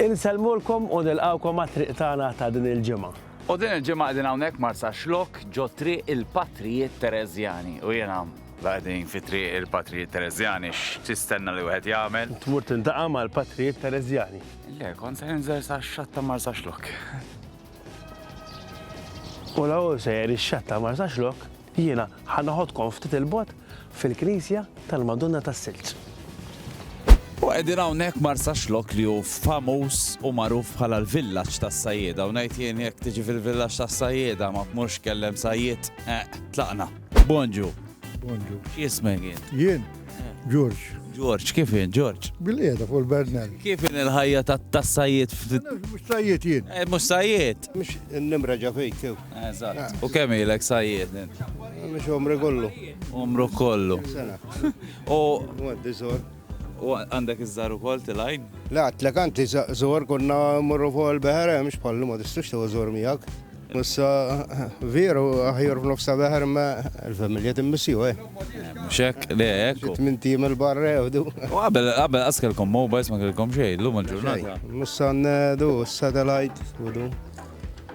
Insellmulkom u nilqgħukom għat-triq tagħna ta' din il-ġimgħa. U din il-ġimgħa qegħdin hawnhekk Marsaxlokk ġo Triq il-Patrijiet Tereżjani u jiena Qegħdin fi Triq il-Patrijiet Tereżjani x'tistenna li wieħed jagħmel? Tmur tiltaqa' mal-Patrijiet Tereżjani. Le, kont se ninżel sax-xatt ta' Marsaxlokk. U l-ewwel sejjer ix-xatt ta' Marsaxlokk. Jiena ħa noħodkom ftit 'il bogħod fil-Knisja tal-Madonna tas-Silġ. U qegħdin hawnhekk Marsaxlokk li hu famuż u magħruf bħala l-villaġġ tas-sajjieda u ngħid jien jekk tiġi fil-villaġġ tas-sajjieda ma tmurx tkellem sajjied, eq, tlaqna. Bonġu. Bonġu. X'jismek jien? Jien? Ġorġ. Ġorġ, kif jien, Ġorġ? Bil-qiegħda fuq il-Bernal. Kif jien il-ħajja tas-sajjied? Mhux sajjied jien. Eh, mhux sajjied. Mhux n-nimra ġa fejk. Eżatt. U kemm ilek sajjied int? Mhux umri kollu. Umru kollu. Sena. U Għaddi żor. u għandek iż-żar ukoll tilgħin? Le għatlek anti żor konna mmorru fuq il-beħer hemm x'bħallu ma tistux tew żor miegħek. Issa veru aħjar f'nofs ta' beħer ma l-familja timmissju eh. Mhux hekk? Le hekk. hu. Tmien tim il-barra jewdu. U qabel qabel qas kellkom mobiles ma kellkom xejn, llum il-ġurnata. Mussan du, satellite, u du.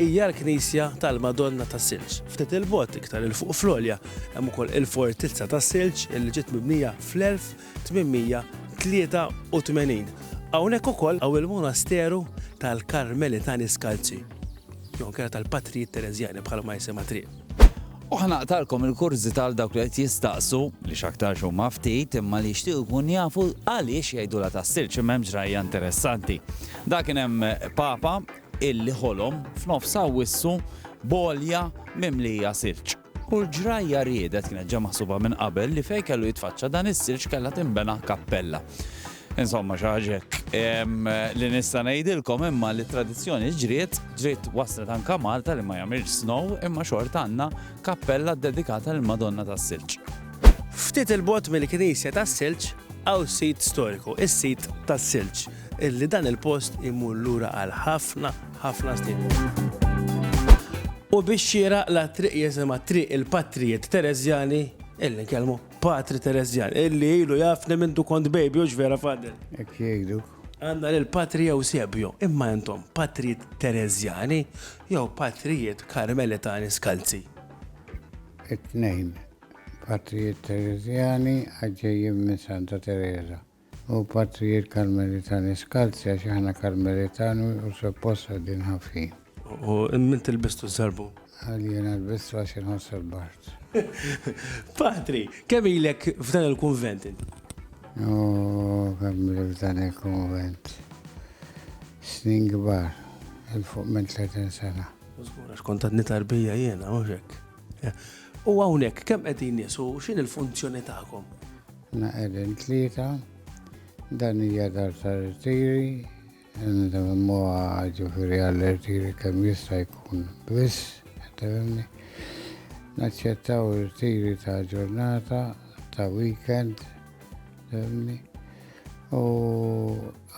Hija l-knisja tal-Madonna tas-Silġ. Ftit 'il bogħod, iktar 'il fuq fl-għolja, hemm ukoll il-Fortizza tas-Silġ li ġiet mibnija fl-1883. Hawnhekk ukoll hawn il-Monasteru tal-Karmelitani Skalzi, jew inkella tal-Patrijiet Tereżjani bħalma jisimha t-triq. U ħa naqtgħalkom il-kurżità għal dawk li qed jistaqsu, li x'aktarx huma ftit, imma li jixtiequ jkunu jafu għaliex jgħidulha tas-Silġ, imma hemm ġrajja interessanti. Dak kien hemm Papa Illi ħolom f'nofs Awwissu b'għolja mimlija silġ. U l-ġrajja riedet, kienet ġa maħsuba minn qabel, li fejn kellu jitfaċċa dan is-silġ kellha tinbena kappella. Insomma, xi ħaġa hekk. Li nista' ngħidilkom imma li t-tradizzjoni ġriet, ġriet waslet anke Malta li ma jagħmilx snow imma xorta għandna kappella ddedikata lill-Madonna tas-Silġ. Ftit 'il bogħod mill-Knisja tas-Silġ hawn sit storiku, is-Sit tas-Silġ. Illi dan il-post imur lura għal ħafna, ħafna snin. U biex xieraq la triq jisimha triq il-patrijiet Tereżjani, illi nkellmu patri Tereżjan, illi ilu jafni minn du kont baby u vera fadel. Ek jgħidu. Għanna l patri Eusebio, imma jentom patrijiet Tereżjani jew patrijiet Karmelitani skalzi. It-tnejn, patrijiet Tereżjani għadġejjim minn Santa Teresa. U patrijiet Karmelitani skalzi għax aħna Karmelitani u suppost qegħdin ħafin. U min tilbistu ż-żarbun? Għal jiena lbistu għax inħoss il-bart. Patri, kemm ilek f'dan il-kunvent inti? Oh, kemm ilek f'dan il-kunvent. Snin kbar, il-fuq minn 30 sena. Użgura, xkont għadni tarbija jiena, uġek. U għawnek, kemm qegħdin nies u x'in il-funzjoni tagħkom? Naqedin tlieta, dan hija dar ta' rtiri, nsemmuha ġifieri għall-rtiri kemm jista' jkun biss, tefhimni. Naċċettaw rtiri ta' ġurnata, ta' weekend, tefhimni. U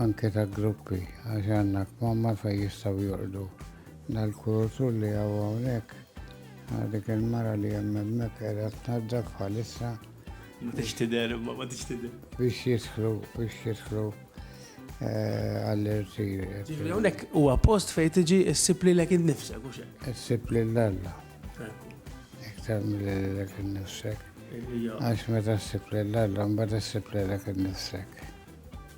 anke ta' gruppi, għax għandna kmamma fejn jistgħu jorqdu. Dal-kuratur li hawn hawnhekk, dik il-mara li hemm hemmhekk qiegħda tnaddaf bħalissa. Ma tix tidher, imma ma tix tidher. Biex jidħlu, biex jidħlu eh, għall-irtir. Ġifri, unek huwa post fejn tiġi ssib li lek innifsek, u xek. Ssib li l-alla. Iktar mill-li lek innifsek. Għax meta ssib li l-alla, mbagħad ssib li lek innifsek.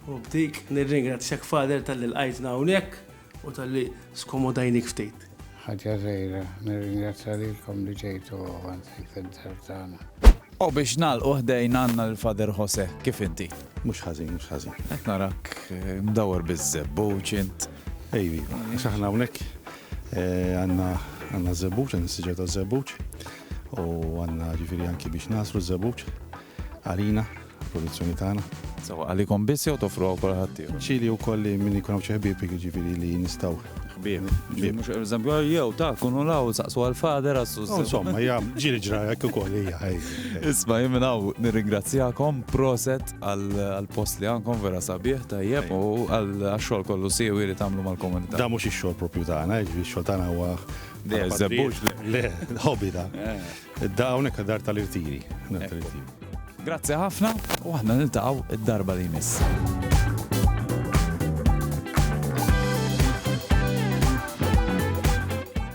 U bdik, nirringrazzjak fader tal-li l-għajtna hawnhekk. U tal-li skomodajnik ftit. Ħaġa zejra, nirringrazzja lilkom li ġejtu għanzi fid-dar tagħna. U biex nalqu ħdejn għandna l-Father Jose, kif inti? Mhux ħażin, mhux ħażin. Qed narak eh, mdawwar biż-żebbuġ int. Ejvi, x'aħna hawnhekk eh, għandna għandna żebbuġ, għandna siġġa ta' żebbuġ u għandna ġifieri anki biex nasru żebbuġ għalina Produzzjoni tagħna. Sewwa għalikom biss jew toffru wkoll għal ħaddieħor? Ċili wkoll li min ikun hawn xi ħbieb jiġifieri li nistgħu. Ħbieb. Ġifieri mhux pereżempju jew ta' kunu l-hawn u saqsu għall-father għax. Insomma hija ġieli ġra hekk ukoll hija. Isma' jien minn hawn nirringrazzjakom, proset għall-post li għandkom vera sabiħ tajjeb u għax-xogħol kollu siewi li tagħmlu mal-komunità. Dan mhux ix-xogħol proprju tagħna, ix-xogħol tagħna huwa. Le, żebbux le. Le, hobby dan. Id-daqqa hawnhekk għad-dar tal-irtiri. Grazzi ħafna u aħna niltaqgħu id-darba li jmiss.